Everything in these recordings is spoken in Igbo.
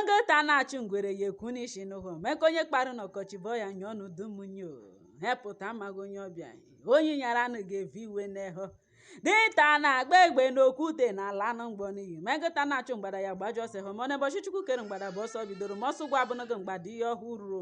ngota na-achụ ngwere ya ekwu n'isi n'ụhọ meka onye kparụ n'ọkọchị bọ ya nye ọnụ dumunyo hepụta amaghị onye ọbịa onye nyara anụ ga-evi iwe n'ehọ dinta na-agba egbe n'okwute na ala anụ mgbọ n'iyi megota na-achụ mgbada ya gbajụ ọsọ hụ mana ụbọchị Chukwu kere mgbada bụ ọsọ bidoro ma ọsọ gwa abụnụgo mgbada ihe ọhụrụ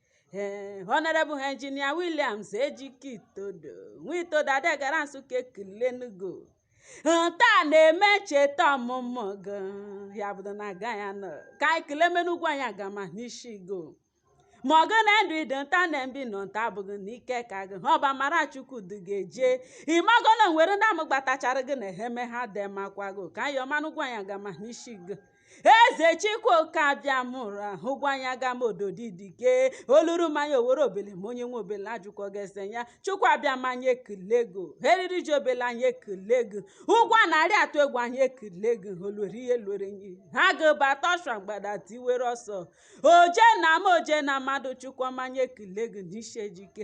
ee honorable engineer Williams Ejike Itodo nwa Itodo Adegara Nsụka ekilenugo taa na-eme ncheta ọmụmụ gị ya bụdo na aga ya nọ ka ekele m nụ Ugwuanyi Agama n'isi gị ma ọ gị na ndụ ị dị nta na mbi ị nọ nta abụghị na ike ka gị ha ọ bụ amara Chukwu dị gị eje ị mago na nwere ndị amụgbatachara gị na eheme ha dị makwa gị ka ayọ m nụ Ugwuanyi Agama n'isi gị eze chikwoke abịa mụrụ Ugwuanyi Agama ododi dike oluru mmanya owere obele ma onye nwe obele ajụkọ gese ya Chukwu Abịama anyị ekilego eriri ji obele anyị ekilego ugwu a na-arị atụ egwu anyị ekilego olori ihe lori enyi agụ bata ọsha mgbada tiwere ọsọ oje na maa oje na mmadụ Chukwu ọma anyị ekilego n'ishi Ejike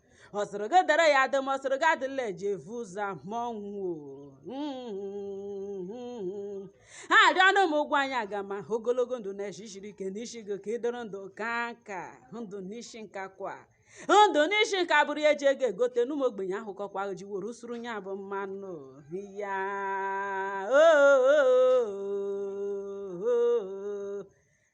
ọ sịrị gị dịrị ya adị ma ọ sịrị gị adịla eji evu ụzọ ma ọnwụ ha arịọ ọnụ m Ugwuanyi Agama ogologo ndụ na eshi shiri ike n'isi gị ka ị dịrị ndụ kaa nka ndụ n'isi nka kwa ndụ n'isi nka bụrụ ya eji ego egote n'ụmụ ogbenye ahụkọkwa ji were suru ya bụ mmanụ ya oo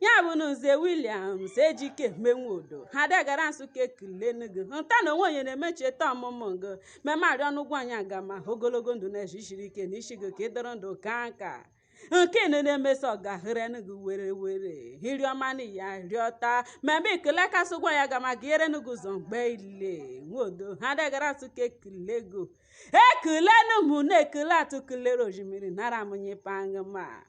ya bụ na nze Williams Ejike menwodo Adegara Nsụka ekele n'gị nta na onwe onye na-eme ncheta ọmụmụ gị meme arịọ nụ Ugwuanyi Agama ogologo ndụ na eshi shiri ike na isi gị ka ị dịrị ndụ kaa nka nke nọ na-emeso ọgahere n'gị were were hiri ọma na ya rịọta meme ekele kasị Ugwuanyi Agama gị ere n'gị ụzọ mgbe ile Nwodo Adegara Nsụka ekele go ekele n'ụmụ na-ekele atụ kelere ojimiri nara amụnye pangị ma